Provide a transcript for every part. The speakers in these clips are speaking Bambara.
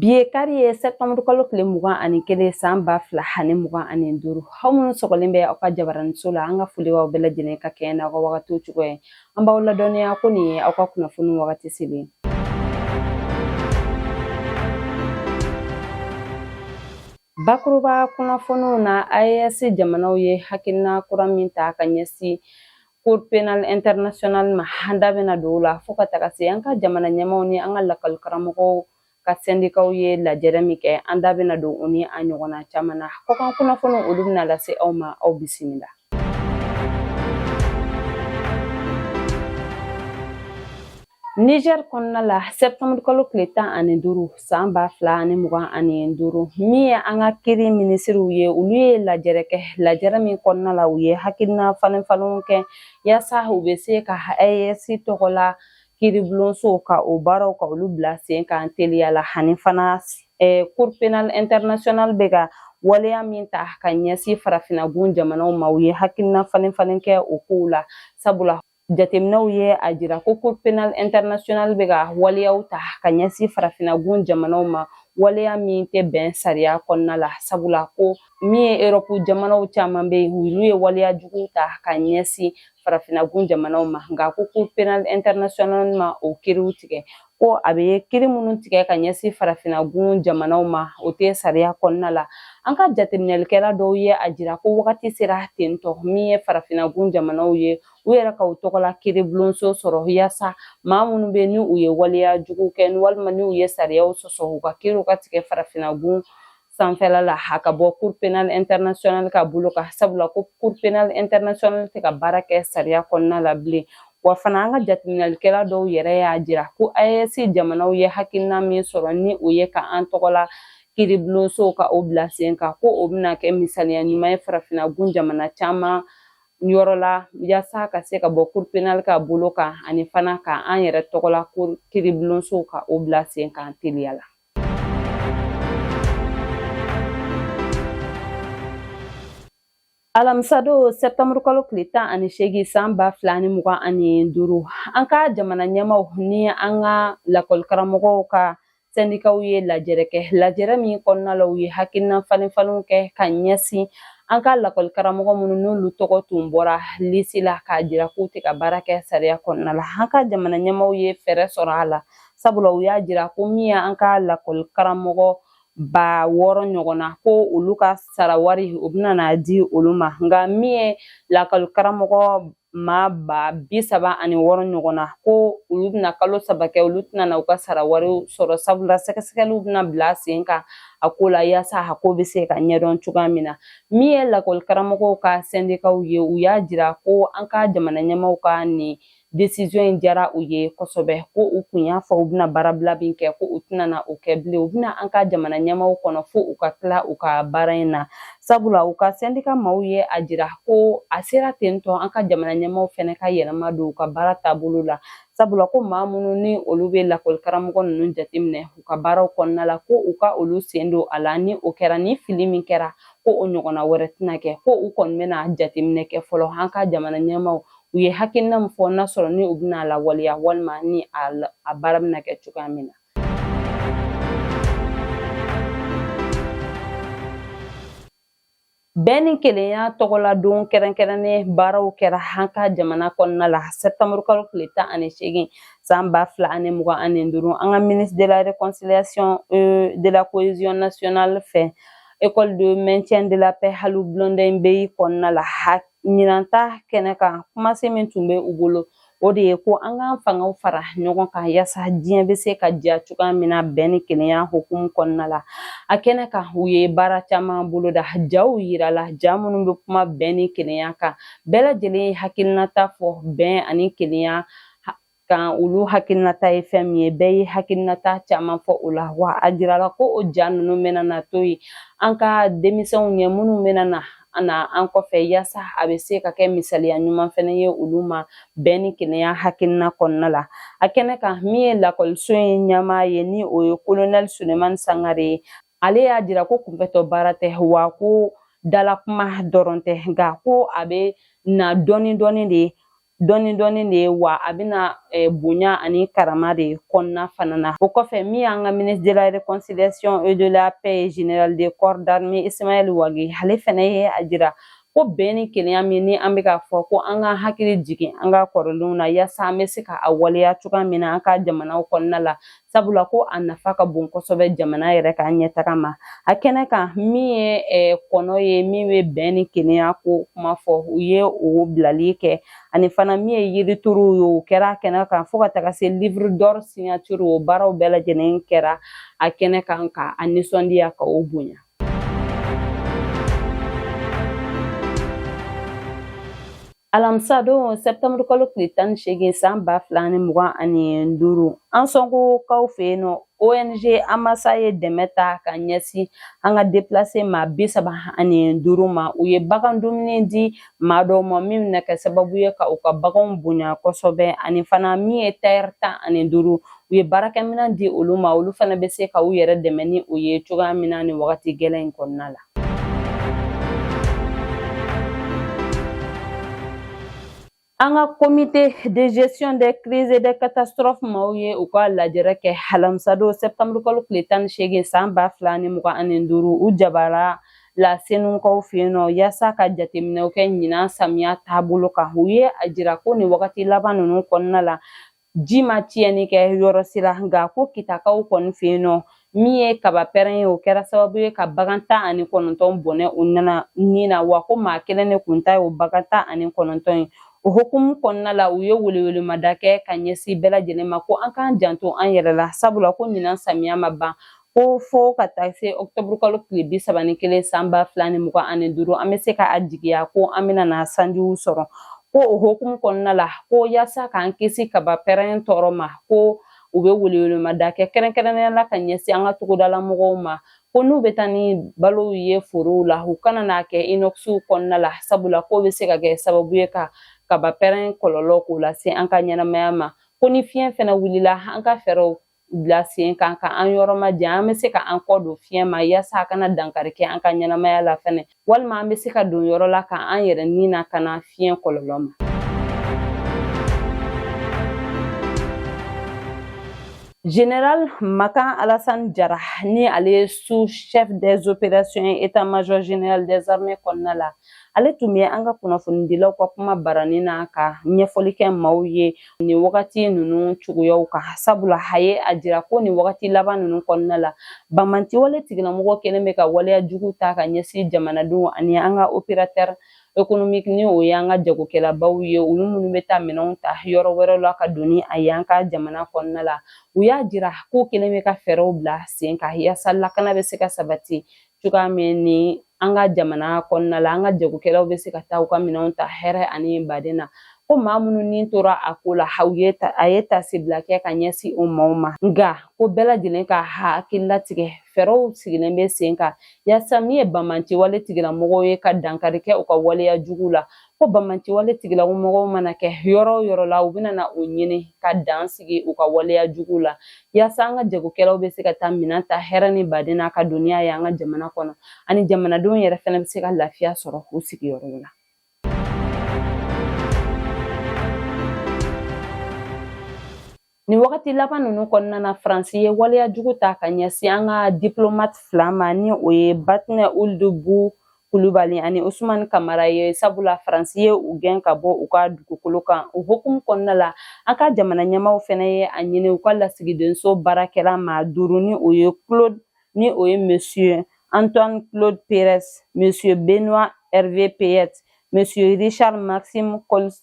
Bi ye kari ye sɛtanburu kalo tile mugan ani kelen san ba fila ani mugan ani duuru aw minnu sɔgɔlen bɛ aw ka jabaraniso la an ka foli b'aw bɛɛ lajɛlen ka kɛɲɛ n'aw ka wagatiw cogoya ye An b'aw ladɔnniya ko nin ye aw ka kunnafoni wagati selen ye. Bakuruba kunnafoniw na AES jamanaw ye hakilina kura min ta ka ɲɛsin Cour pénale internationale ma an da bɛna don o la fo ka taga se an ka jamana ɲɛmaaw ni an ka lakɔli karamɔgɔw ka sɛndikaw ye lajɛrɛ min kɛ an da bɛna don o ni a ɲɔgɔnna caman na kɔkan kunnafoni olu bɛna lase aw ma aw bisimila Niger kɔnɔna la septembre kalo tile tan ani duuru san ba fila ani mugan ani duuru min ye an ka kiri minisiriw ye olu ye lajɛrɛ kɛ lajɛrɛ min kɔnɔna la u ye hakilina falenfalenw kɛ yaasa u bɛ se ka AES tɔgɔla kiiribulonso ka o baaraw ka olu bila sen kan teliya la ani fana cour penal international bɛ ka waleya min ta ka ɲɛsin farafinagun jamanaw ma u ye hakilina falenfalen kɛ o kow la sabula jateminɛw ye a jira ko cour penal international bɛ ka waleyaw ta ka ɲɛsin farafinagun jamanaw ma waleya min tɛ bɛn sariya kɔnɔna la sabula ko min ye erɔpu jamanaw caman bɛ yen olu ye waleya jugu ta ka ɲɛsin farafinagun jamanaw ma nka ko cour penal international ma o kiriw tigɛ ko a bɛ kiri minnu tigɛ ka ɲɛsin farafinagun jamanaw ma o tɛ sariya kɔnɔna la an ka jateminɛlikɛla dɔw ye a jira ko wagati sera tentɔ min ye farafinagun jamanaw ye u yɛrɛ ka u tɔgɔla kiiribulonso sɔrɔ yaasa maa minnu bɛ ni u ye waleya jugu kɛ walima ni u ye sariyaw sɔsɔ u ka kiriw ka tigɛ farafinagun sanfɛla la a ka bɔ cour penal international ka bolo kan sabula ko cour penal international tɛ ka baara kɛ sariya kɔnɔna la bilen wa fana an ka jateminɛlikɛla dɔw yɛrɛ y'a jira ko AES jamanaw ye hakilina min sɔrɔ ni o ye ka an tɔgɔla kiribulonsow ka o bila sen kan ko o bɛna kɛ misaliya ɲuman ye farafinagun jamana caman yɔrɔ la yaasa ka se ka bɔ cour penal ka bolo kan ani fana ka an yɛrɛ tɔgɔla kiribulonsow ka o bila sen kan teliya la alamisa don sɛtanburu kalo tile tan ani seegin san ba fila ni mugan ani duuru an ka jamana ɲɛmaaw ni an ka lakɔlikaramɔgɔw ka sɛndikaw ye lajɛrɛ kɛ lajɛrɛ min kɔnɔna la u ye hakilina falenfalenw kɛ ka ɲɛsin an ka lakɔlikaramɔgɔ minnu n'olu tɔgɔ tun bɔra lisi la k'a jira k'u tɛ ka baara kɛ sariya kɔnɔna la an ka jamana ɲɛmaaw ye fɛɛrɛ sɔrɔ a la sabula u y'a jira ko min y'an ka lakɔli karamɔgɔ ba wɔɔrɔ ɲɔgɔn na ko olu ka sara wari o bɛna na di olu ma nka min ye lakɔli karamɔgɔ maa ba bi saba ani wɔɔrɔ ɲɔgɔn na ko olu bɛna kalo saba kɛ olu tɛna na u ka sara wariw sɔrɔ sabula sɛgɛsɛgɛliw bɛna bila sen kan a ko la yaasa a ko bɛ se ka ɲɛdɔn cogoya min na min ye lakɔli karamɔgɔw ka sɛndikaw ye u y'a jira ko an ka jamana ɲɛmaaw ka nin desizɔn in diyara u ye kosɛbɛ ko u kun y'a fɔ u bɛna baarabila min kɛ ko u tɛna na o kɛ bilen u bɛna an ka jamana ɲɛmaw kɔnɔ fo u ka tila u ka baara in na sabula u ka sɛndika maaw ye a jira ko a sera ten tɔ an ka jamana ɲɛmaw fɛnɛ ka yɛlɛma don u ka baara taabolo la sabula ko maa minnu ni olu bɛ lakɔli karamɔgɔ ninnu jateminɛ u ka baaraw kɔnɔna la ko u ka olu sen don a la ni o kɛra ni fili min kɛra ko o ɲɔgɔnna wɛrɛ tɛna kɛ ko u kɔni bɛna jateminɛ kɛ fɔlɔ an ka jamana ɲɛmaw u ye hakilina min fɔ n'a sɔrɔ ni u bɛna a lawaleya walima ni a baara bɛna kɛ cogoya min na bɛn ni kelenya tɔgɔladon kɛrɛnkɛrɛnnen baaraw kɛra an ka jamana kɔnɔna la septembre kalo tile tan ani seegin san ba fila ani mugan ani duuru an ka ministre de la réconciliation euh, de la cohésion nationale fɛ école de maintien de la paix alioune blondin beye kɔnɔna la ɲinan ta kɛnɛ kan kumasen min tun bɛ u bolo o de ye ko an k'an fangaw fara ɲɔgɔn kan yaasa diɲɛ bɛ se ka diya cogoya min na bɛn ni kelenya hukumu kɔnɔna la a kɛnɛ kan u ye baara caman boloda jaw yirala ja minnu bɛ kuma bɛn ni kelenya kan bɛɛ lajɛlen ye hakilinata fɔ bɛn ani kelenya kan olu hakilinata ye fɛn min ye bɛɛ ye hakilinata caman fɔ o la wa a jirala ko o ja ninnu bɛna na to yen an ka denmisɛnw ɲɛ minnu bɛna na na an kɔfɛ yaasa a bɛ se ka kɛ misaliya ɲuman fɛnɛ ye olu ma bɛn ni kelenya hakilina kɔnɔna la a kɛnɛ kan min ye lakɔliso in ɲɛmaa ye ni o ye kolonɛli sulemani sangare ye ale y'a jira ko kunfɛtɔ baara tɛ wa ko dalakuma dɔrɔn tɛ nka ko a bɛ na dɔɔni dɔɔni de dɔɔni dɔɔni de ye wa a bɛ na eh, bonya ani karama de kɔnɔna fana na o kɔfɛ min y'an ka ministre de la réconciliation et de la paix général de corps d'armée ismaël wagué ale fana ye a jira ko bɛn ni kelenya min ni an bɛ k'a fɔ ko an ka hakili jigin an ka kɔrɔlenw na yaasa an bɛ se ka a waleya cogoya min na an ka jamanaw kɔnɔna la sabula ko a nafa ka bon kosɛbɛ jamana yɛrɛ ka ɲɛtaga ma a kɛnɛ kan min ye eh, kɔnɔ ye min bɛ bɛn ni kelenya ko kuma fɔ u ye o bilali kɛ ani fana min ye yirituruw ye o kɛra a kɛnɛ kan fo ka taga se livre d'or signature o baaraw bɛɛ lajɛlen kɛra a kɛnɛ kan ka a nisɔndiya ka o bonya Alamisa don septembre kalo tile tan ni seegin san ba fila ni mugan ani duuru Ansɔngokaw fɛ yen nɔ ONG Amasa ye dɛmɛ ta ka ɲɛsin an ka deplase maa bi saba ani duuru ma u ye bagan dumuni di maa dɔw ma min bɛna kɛ sababu ye ka u ka baganw bonya kosɛbɛ ani fana min ye tayɛri tan ani duuru u ye baarakɛminɛn di olu ma olu fana bɛ se ka u yɛrɛ dɛmɛ ni o ye cogoya min na nin wagati gɛlɛn in kɔnɔna la An ka comité de gestion des crises et des catastrophes maaw ye u ka lajɛrɛ kɛ alamisadon septembre kalo tile tan ni seegin san ba fila ni mugan ani duuru u jabara la senukaw fɛ yen nɔ yaasa ka jateminɛw kɛ ɲinan samiya taabolo kan u ye a jira ko nin wagati laban ninnu kɔnɔna la ji ma tiɲɛni kɛ yɔrɔ si la nka ko kitakaw kɔni fɛ yen nɔ min ye kaba pɛrɛn ye o kɛra sababu ye ka bagan tan ani kɔnɔntɔn bɔnɛ u nana ni na wa ko maa kelen de kun ta ye o bagan tan ani kɔnɔntɔn ye o hukumu kɔnɔna la u ye welewelemada kɛ ka ɲɛsin bɛɛ lajɛlen ma ko an k'an janto an yɛrɛ la sabula ko ɲinan samiya ma ban Ko fo ka taa se ɔkutɔburu kalo tile bi saba ni kelen san ba fila ni mugan ani duuru an bɛ se ka a jigiya ko an bɛna na sanjiw sɔrɔ ko o hukumu kɔnɔna la ko yaasa k'an kisi kaba pɛrɛn tɔɔrɔ ma ko u bɛ welewelemada kɛ kɛrɛnkɛrɛnnenya la ka ɲɛsin an ka togodala mɔgɔw ma ko n'u bɛ taa ni balow ye forow la u kana n'a kɛ inɔkisiw kɔnɔna la sabula k'o bɛ se ka kɛ sababu ye ka kaba pɛrɛn kɔlɔlɔ k'o lase an ka ɲɛnamaya ma ko ni fiɲɛ fɛnɛ wulila an ka fɛɛrɛw bila sen kan ka an yɔrɔ majan an bɛ se ka an kɔ don fiɲɛ ma yaasa a kana dankari kɛ an ka ɲɛnamaya la fɛnɛ walima an bɛ se ka don yɔrɔ la ka an yɛrɛ ni lakana fiɲɛ kɔlɔlɔ ma Général Makan Alassane Jara ni ale ye sous chef des opérations état-major général des armées kɔnɔna la ale tun bɛ an ka kunnafonidilaw ka kuma barani na ka ɲɛfɔli kɛ maaw ye nin wagati ninnu cogoyaw kan sabula a ye a jira ko nin wagati laban ninnu kɔnɔna la banbaanciwale tigilamɔgɔ kɛlen bɛ ka waleya jugu ta ka ɲɛsin jamanadenw ani an ka operatɛri ekonomiki ni o y'an ka jagokɛlabaw ye olu minnu bɛ taa minɛnw ta yɔrɔ wɛrɛ la ka don ni a ye an ka jamana kɔnɔna la u y'a jira k'u kɛlen bɛ ka fɛɛrɛw bila sen kan yaasa lakana bɛ se ka sabati cogoya min ni an ka jamana kɔnɔna la an ka jagokɛlaw bɛ se ka taa u ka minɛnw ta hɛrɛ ani baden na ko maa minnu ni tora a ko la a ye tasibila kɛ ka ɲɛsin o maaw ma nka ko bɛɛ lajɛlen ka hakili latigɛ fɛɛrɛw sigilen bɛ sen kan yaasa min ye banbaanciwale tigilamɔgɔw ye ka dankari kɛ u ka waleya jugu la ko banbaanci wale tigilamɔgɔw mana kɛ yɔrɔ o yɔrɔ la u bɛna na u ɲini ka dan sigi u ka waleya jugu la yaasa an ka jagokɛlaw bɛ se ka taa minɛn ta hɛrɛ ni baden na ka don ni a ye an ka jamana kɔnɔ ani jamanadenw yɛrɛ fana bɛ se ka lafiya sɔrɔ u sigiyɔrɔ la Nin wagati laban ninnu kɔnɔna na Faransi ye waleya jugu ta ka ɲɛsin an ka diplomate fila ma ni o ye Batne Ould Bu Kulubali ani Usumani Kamara ye sabula Faransi ye u gɛn ka bɔ u ka dugukolo kan o hukumu kɔnɔna la an ka jamana ɲɛmaaw fana ye a ɲini u ka lasigidenso baarakɛla maa duuru ni o ye Claude ni o ye Monsieur Antoine Claude Perez Monsieur Benoît Hervé Payet Monsieur Richard Maxime Colson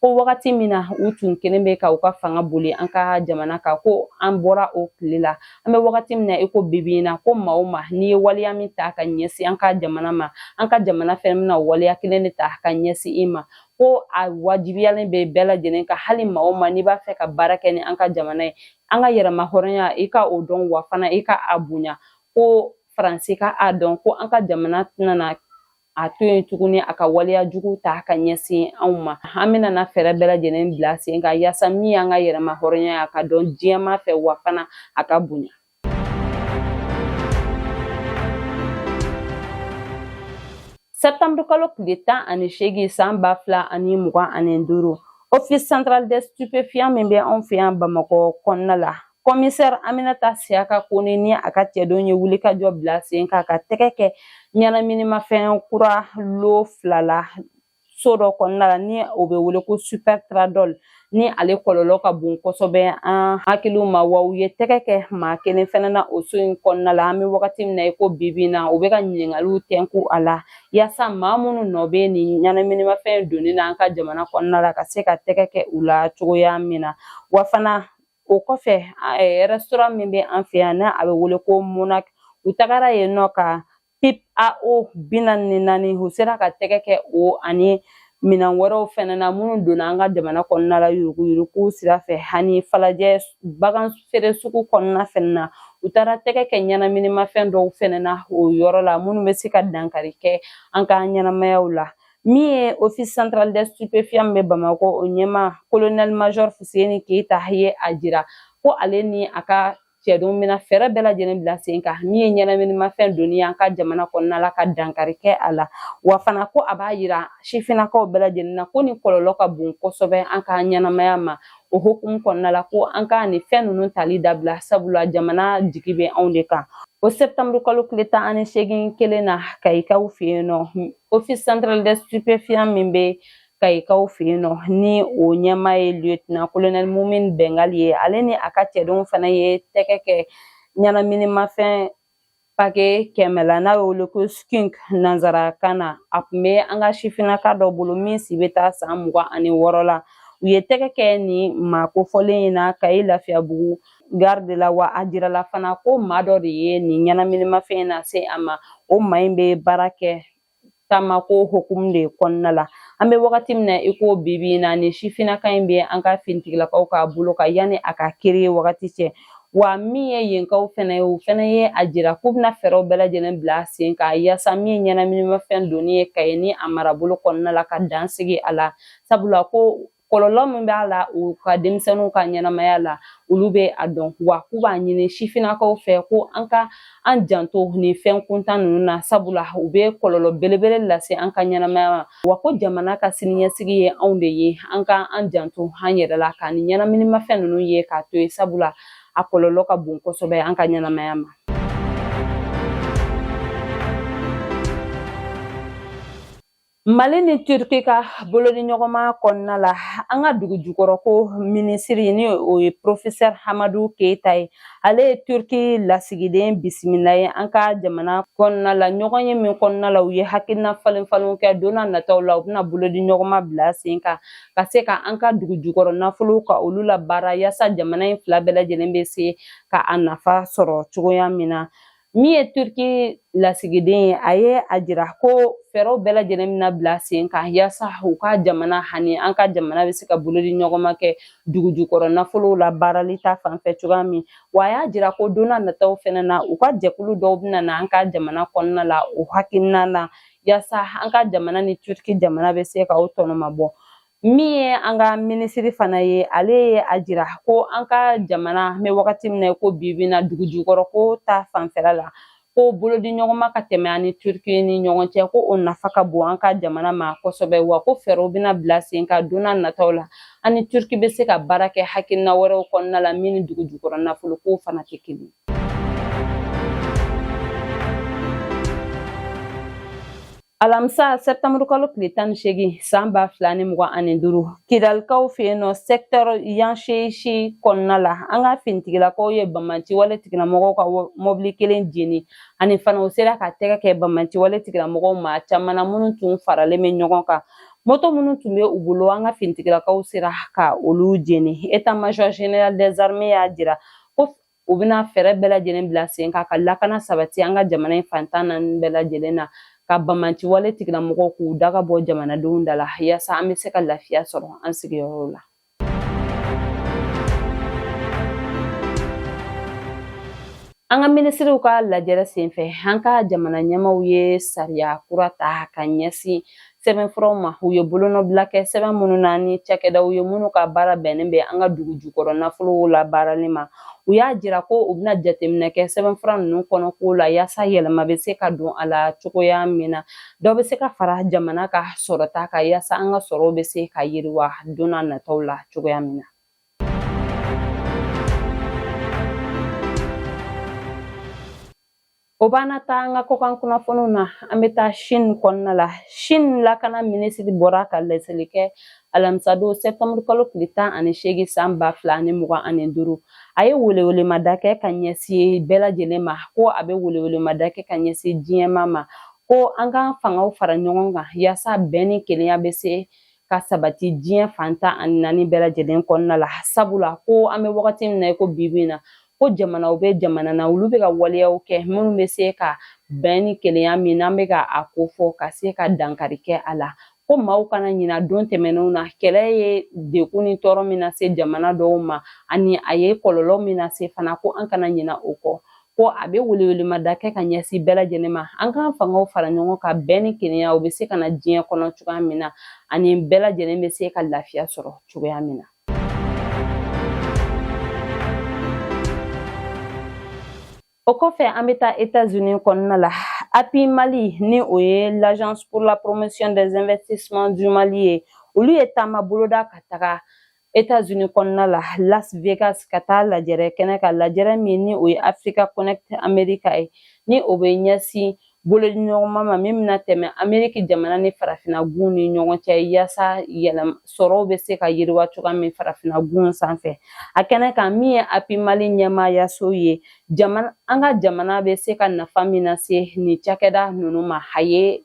ko wagati min na u tun kɛlen bɛ ka u ka fanga boli an ka jamana kan ko an bɔra o tile la an bɛ wagati min na i ko bibi in na ko maa o maa n'i ye waleya min ta ka ɲɛsin an ka jamana ma an ka jamana fɛnɛ bɛna waleya kelen de ta ka ɲɛsin i ma ko a wajibiyalen bɛ bɛɛ lajɛlen kan hali maa o maa n'i b'a fɛ ka baara kɛ ni an ka jamana ye an ka yɛrɛma hɔrɔnya i ka o dɔn wa fana i ka a bonya ko faransi ka a dɔn ko an ka jamana tɛna a to yen tuguni a ka waleya jugu ta ka ɲɛsin anw ma an bɛna na fɛɛrɛ bɛɛ lajɛlen bila sen kan yaasa min y'an ka yɛrɛma hɔrɔnya ye a ka dɔn diɲɛ maa fɛ wa fana a ka bonya septembre kalo tile tan ani seegin san ba fila ani mugan ani duuru office central des stupéfiants min bɛ anw fɛ yan bamakɔ kɔnɔna la kɔmisɛri aminata siyaka kone ni a ka cɛdenw ye wulikajɔ bila sen kan ka tɛgɛ kɛ ɲɛnaminimafɛn kura lo fila la so dɔ kɔnɔna la ni o bɛ wele ko super tradol ni ale kɔlɔlɔ ka bon kosɛbɛ an hakiliw ma wa u ye tɛgɛ kɛ maa kelen fɛnɛ na o so in kɔnɔna la an bɛ wagati min na i ko bibi in na u bɛ ka ɲininkaliw tɛnku a la yaasa maa minnu nɔ bɛ nin ɲɛnaminimafɛn donni na an ka jamana kɔnɔna la ka se ka tɛgɛ kɛ u la cogoya min na wa fana o kɔfɛ rɛsitoran min bɛ an fɛ yan ni a bɛ wele ko monak u tagara yen nɔ ka pipe à eau bi naani ni naani u sera ka tɛgɛ kɛ o ani minan wɛrɛw fɛnɛ na minnu donna an ka jamana kɔnɔna la yuruguyurugu sira fɛ ani falajɛ bagan feere sugu kɔnɔna fɛnɛ na u tagara tɛgɛ kɛ ɲɛnaminimafɛn dɔw fɛnɛ na o yɔrɔ la minnu bɛ se ka dankari kɛ an ka ɲɛnamayaw la min ye office central des stupéfiants bɛ bamakɔ o ɲɛmaa colonel major fuseni keyita ye a jira ko ale ni a ka cɛdenw bɛna fɛɛrɛ bɛɛ lajɛlen bila sen kan min ye ɲɛnaminimafɛn donni ye an ka jamana kɔnɔna la ka dankari kɛ a la wa fana ko a b'a yira sifinnakaw bɛɛ lajɛlen na ko nin kɔlɔlɔ ka bon kosɛbɛ an ka ɲɛnamaya ma o hokumu kɔnɔna la ko an ka nin fɛn ninnu tali dabila sabula jamana jigi bɛ anw de kan o septembre kalo tile tan ani seegin kelen na kayikaw fɛ yen nɔ office central des stupéfiants min bɛ kayikaw fɛ yen nɔ ni o ɲɛmaa ye lieutenant colonel mumin bɛngali ye ale ni a ka cɛdenw fana ye tɛgɛ kɛ ɲɛnaminimafɛn pake kɛmɛ la n'a y'o wele ko skunk nanzarakan na a tun bɛ an ka sifinnaka dɔ bolo min si bɛ taa san mugan ani wɔɔrɔ la u ye tɛgɛ kɛ nin maa kofɔlen in na kayi lafiyabugu gari de la wa a jirala fana ko maa dɔ de ye nin ɲɛnaminimafɛn in nase a ma o maa in bɛ baara kɛ taamako hukumu de kɔnɔna la an bɛ wagati min na i ko bibi in na ni sifinnaka in bɛ an ka finitigilakaw ka bolo kan yanni a ka kiiri wagati cɛ wa min ye yenkaw fɛnɛ ye o fɛnɛ ye a jira k'u bɛna fɛɛrɛw bɛɛ lajɛlen bila sen kan yaasa min ye ɲɛnaminimafɛn donni ye kayi ni a marabolo kɔnɔna la ka dan sigi a la sabula ko kɔlɔlɔ min b'a la u ka denmisɛnninw ka ɲɛnamaya la olu bɛ a dɔn wa k'u b'a ɲini sifinnakaw fɛ ko an ka an janto nin fɛn kuntan ninnu na sabula u bɛ kɔlɔlɔ belebele lase an ka ɲɛnamaya ma wa ko jamana ka siniɲɛsigi ye anw de ye an ka an janto an yɛrɛ la ka nin ɲɛnaminimafɛn ninnu ye k'a to yen sabula a kɔlɔlɔ ka bon kosɛbɛ an ka ɲɛnamaya ma mali ni turki ka bolodiɲɔgɔnma kɔnɔna la an ka dugujukɔrɔ ko minisiri ni o ye porofesɛr hamadu keita ye ale ye turki lasigiden bisimila ye an ka jamana kɔnɔna la ɲɔgɔnye min kɔnɔna la u ye hakilina falen falenw kɛ donna nataw la u bɛna bolodiɲɔgɔnma bila sen kan ka se ka an ka dugujukɔrɔ nafolow ka olu labaara yaasa jamana in fila bɛɛ lajɛlen bɛ se ka a nafa sɔrɔ cogoya min na min ye turki lasigiden ye a ye a jira ko fɛɛrɛw bɛɛ lajɛlen bɛna bila sen kan yaasa u ka jamana hani an ka jamana bɛ se ka bolodiɲɔgɔnma kɛ dugujukɔrɔ nafolow labaarali ta fanfɛ cogoya min wa a y'a jira ko donna nataw fɛnɛ na u ka jɛkulu dɔw bɛna na an ka jamana kɔnɔna la o hakilina na yaasa an ka jamana ni turki jamana bɛ se ka o tɔnɔmabɔ min ye an ka minisiri fana ye ale ye a jira ko an ka jamana an bɛ wagati min na i ko bi bi in na dugujukɔrɔ ko ta fanfɛla la ko bolodiɲɔgɔnma ka tɛmɛ an ni turiki ni ɲɔgɔn cɛ ko o nafa ka bon an ka jamana ma kosɛbɛ wa ko fɛɛrɛw bɛna bila sen kan donna nataw la an ni turiki bɛ se ka baara kɛ hakilina wɛrɛw kɔnɔna la min ni dugujukɔrɔ nafolo ko fana tɛ kelen Alamisa sɛtanburu kalo tile tan ni seegin san ba fila ni mugan ani duuru kidalikaw fɛ yen nɔ sɛkitɛri yanseesi kɔnɔna la an ka finitigilakaw ye banbaanciwale tigilamɔgɔw ka mɔbili kelen jeni ani fana u sera ka tɛgɛ kɛ banbaanciwale tigilamɔgɔw maa caman na minnu tun faralen bɛ ɲɔgɔn kan moto minnu tun bɛ u bolo an ka finitigilakaw sera ka olu jeni état major général des armées y'a jira ko u bɛna fɛɛrɛ bɛɛ lajɛlen bila sen kan ka lakana sabati an ka jamana in fan tan naani bɛɛ lajɛlen na ka banbaanci wale tigilamɔgɔw k'u daga bɔ jamanadenw da la yaasa an bɛ se ka lafiya sɔrɔ an sigiyɔrɔw la an ka minisiriw ka lajɛrɛ senfɛ an ka jamana ɲɛmaw ye sariya kura ta ka ɲɛsin sɛbɛnfuraw ma u ye bolonɔbila kɛ sɛbɛn minnu na ni cakɛdaw ye minnu ka baara bɛnnen bɛ an ka dugu jukɔrɔ nafolow labaarali ma u y'a jira ko u bɛna jateminɛ kɛ sɛbɛnfura ninnu kɔnɔkow la yaasa yɛlɛma bɛ se ka don a la cogoya min na dɔ bɛ se ka fara jamana ka sɔrɔta kan yaasa an ka sɔrɔw bɛ se ka yiriwa don na nataw la cogoya min na O b'an na taa an ka kɔkan kunnafoniw na an bɛ taa Chine kɔnɔna la Chine lakana minisiri bɔra ka laseli kɛ alamisadon sɛptamuru kalo tile tan ani seegin san ba fila ani mugan ani duuru a ye welewelemada kɛ ka ɲɛsin bɛɛ lajɛlen ma ko a bɛ welewelemada kɛ ka ɲɛsin diɲɛmaa ma ko an k'an fangaw fara ɲɔgɔn kan yaasa bɛn ni kelenya bɛ se ka sabati diɲɛ fan tan ani naani bɛɛ lajɛlen kɔnɔna la sabula ko an bɛ wagati min na i ko bibi in na ko jamanaw bɛ jamana na olu bɛ ka waleyaw kɛ minnu bɛ se ka bɛn ni kelenya min n'an bɛ ka a kofɔ ka se ka dankari kɛ a la ko maaw kana ɲina don tɛmɛnenw na kɛlɛ ye degun ni tɔɔrɔ min lase jamana dɔw ma ani a ye kɔlɔlɔ min lase fana ko an kana ɲina o kɔ ko a bɛ welewelemada kɛ ka ɲɛsin bɛɛ lajɛlen ma an k'an fangaw fara ɲɔgɔn kan bɛn ni kelenya o bɛ se ka na diɲɛ kɔnɔ cogoya min na ani bɛɛ lajɛlen bɛ se ka lafiya sɔrɔ cogoya min na O kɔfɛ an bɛ taa États-Unis kɔnɔna la API Mali ni o ye l'agence pour la promotion des investissements du Mali ye olu ye taama boloda ka taga États-Unis kɔnɔna la Las Vegas ka taa lajɛrɛ kɛnɛ kan lajɛrɛ min ni o ye Africa Connect America ye ni o bɛ ɲɛsin bolodiɲɔgɔnma ma min bɛna tɛmɛ ameriki jamana ni farafina gun ni ɲɔgɔn cɛ yaasa sɔrɔw bɛ se ka yiriwa cogoya min farafina gun sanfɛ a kɛnɛ kan min ye api mali ɲɛmaayaso ye an ka jamana bɛ se ka nafa min lase nin cakɛda ninnu ma a ye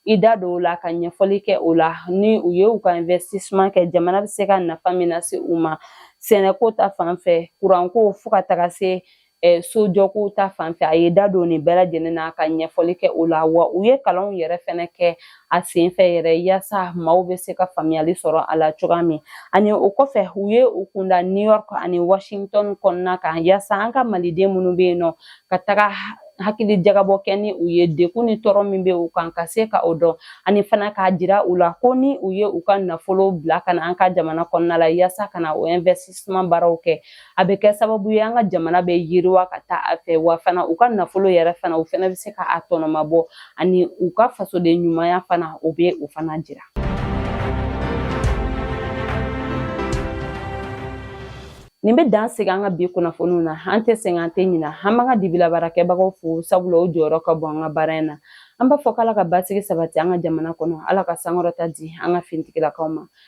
i da don o la ka ɲɛfɔli kɛ o la ni u ye u ka investissement kɛ jamana bɛ se ka nafa min lase u ma sɛnɛko ta fan fɛ kuranko fo ka taga se sojɔko ta fan fɛ a ye da don nin bɛɛ lajɛlen na ka ɲɛfɔli kɛ o la wa u ye kalanw yɛrɛ fɛnɛ kɛ a sen fɛ yɛrɛ yaasa maaw bɛ se ka faamuyali sɔrɔ a la cogoya min ani o kɔfɛ u ye u kunda new york ani washington kɔnɔna kan yaasa an ka maliden minnu bɛ yen nɔ ka taga hakili jagabɔ kɛ ni u ye degun ni tɔɔrɔ min bɛ u kan ka se ka o dɔn ani fana k'a jira u la ko ni u ye u ka nafolo bila ka na an ka jamana kɔnɔna la yaasa ka na o investissement baaraw kɛ a bɛ kɛ sababu ye an ka jamana bɛ yiriwa ka taa a fɛ wa fana u ka nafolo yɛrɛ fana u fana bɛ se ka a tɔnɔma bɔ ani u ka fasoden ɲumanya fana o bɛ o fana jira nin bɛ dan sigi an ka bi kunnafoniw na an tɛ sɛgɛn an tɛ ɲina an b'an ka dibilabaarakɛbagaw fo sabula o jɔyɔrɔ ka bon an ka baara in na an b'a fɔ k'ala ka basigi sabati an ka jamana kɔnɔ ala ka sankɔrɔta di an ka finitigilakaw ma